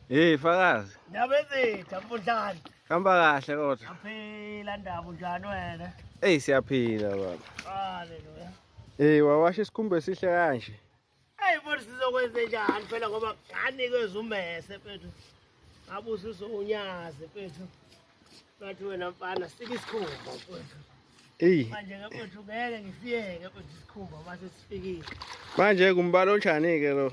Hey fakazi. Nabezitha mfundlani. Hamba kahle kodwa. Aphila ndaba unjani wena? Hey siyaphila baba. Haleluya. Hey wawasha isikhumba esihle kanje. Hey futhi sizokwenze njani phela ngoba nganike zumese mfethu. Abusiso unyazi mfethu. Bathi wena mfana sika isikhumba mfethu. Hey. Manje ke mfethu ngeke ngisiyeke mfethu isikhumba mase sifikile. Manje kumbalo njani ke lo?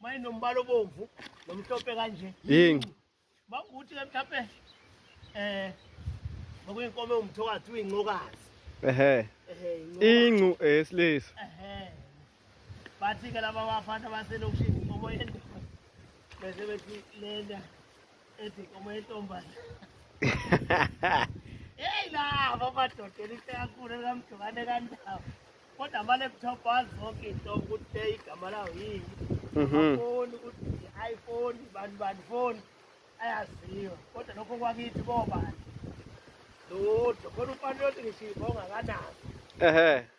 Manje nombala obomvu nomhlophe kanje. Yingi. Makuthi ke mhlawumbe eh ngokuyinkomo umthokazi uyincokazi. Ehhe. Ehhe. Incu esilisa. Ehhe. Bathi ke laba bafana baselokishini inkomo yendaba. Bese bethi lena ethi inkomo yentombazane heyi lava amadodela into yakhulu ekamjokane kandawo kodwa ama-laptop azi zonke into ukuthi le igama lawo yini mhm. amafoni ukuthi i-iphone bani bani foni ayaziwa kodwa lokho kwakithi bobani lodwa khona umfana yothi ngishiva ongakanazo ehe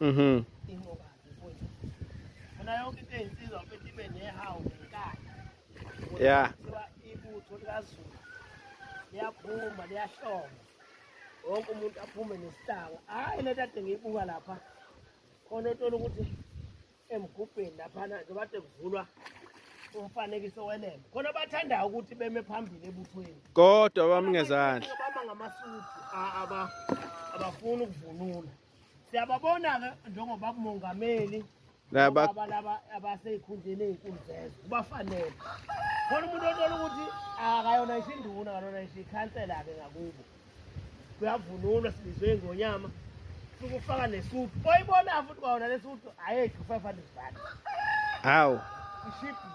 Mhm. Inqoba mfowethu. Funa yonke into eyinsizwa mfethu ibe nehawu ngenkani. Yeah. Kuthiwa ibutho likaZulu liyaphuma liyahloma. Wonke umuntu aphume nesihlanga. Hayi le tade ngiyibuka lapha. Khona othola ukuthi emgubheni laphana nje bade kuvulwa umfanekiso welembe. Khona bathandayo ukuthi beme phambili ebuthweni. Kodwa bami ngezandla. Bama ngamasudu a- aba abafuni ukuvunula. siyababona-ke njengoba kumongameli laba laba abaseyikhundleni ezinkulu zezwe kubafanele khona umuntu othola ukuthi akayona isho induna kalona isho ikhansela-ke ngakubo kuyavunulwa silizwe ingonyama suke ufaka nesudu oyibona futhi kwawona lesudu ayedli u-five hundred rand hawu ishibhi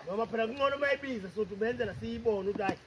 noma phela kungcono uma ibiza sothi ubenzela siyibone ukuthi hayi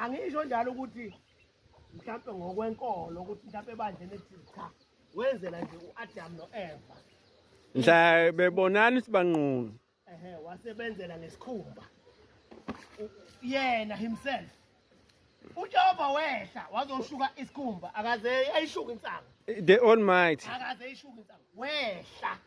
angisho njalo ukuthi mhlawumbe ngokwenkolo ukuthi mhlawumbe ebandleni ethile cha wenzela nje u-adamu no-eva mhla bebonani ukuthi banqunu ehe wasebenzela ngesikhumba yena himself uJehova wehla wazoshuka isikhumba akaze ayishuka insangu the almighty akaze ayishuka insangu wehla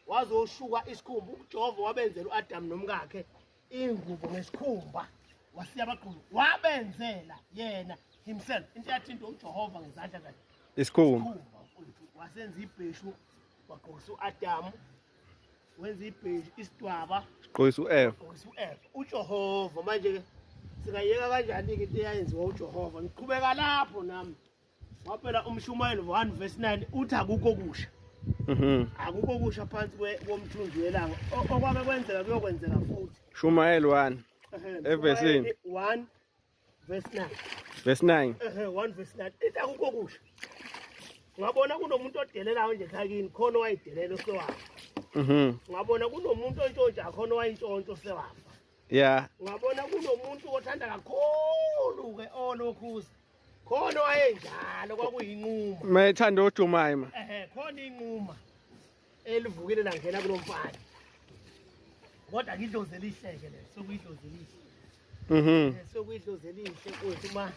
wazoshuka isikhumba uJehova wabenzela uAdam nomkakhe ingubo ngesikhumba wasiya abaqulu wabenzela yena himself into yathinta uJehova ngezandla zakhe isikhumba wasenza ibheshu wagqokisa uAdamu wenza ibheshu isidwaba sigqokisa uEva ugqokisa uEva uJehova manje ke singayeka kanjani ke into eyayenziwa uJehova ngiqhubeka lapho nami Waphela umshumayeli 1 verse 9 uthi akukho kusha. Mhm. Akukho kusha phansi komthunzi welanga. Okwake kwenzeka kuyokwenzeka futhi. Shumayeli 1. Evesini 1 verse 9. Verse 9. Ehhe 1 verse 9. Ithi akukho kusha. Ngabona kunomuntu odelelayo nje khakini khona wayidelela osewafa. Mhm. Ngabona kunomuntu ontshontsha khona wayintshontsho osewafa. Yeah. Ngabona kunomuntu othanda kakhulu ke olokhuza. khona wayenjalo kwakuyinquma mayethanda ojumayima ehe khona inquma elivukile langena kulo mfana kodwa ngidlozi elihleke le sokuyidlozi elihle mhm sokuyidlozi elihle kuthi uma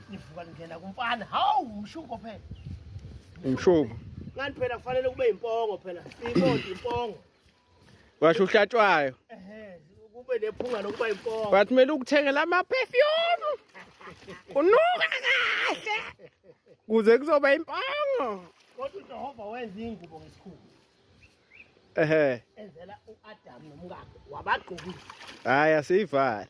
nivuka ningena kumfana hawu umshuko phela umshuko kanti phela kufanele kube impongo phela siyibonda impongo washo uhlatshwayo kube nephunga lokuba impongo but kumele ukuthengela ama-perfume unuka kahle kuze kuzoba impongo kodwa ujehova wenza iy'ngubo ngesikhulu ehe enzela u-adamu nomkakhe wabagqokile hhayi asiyivali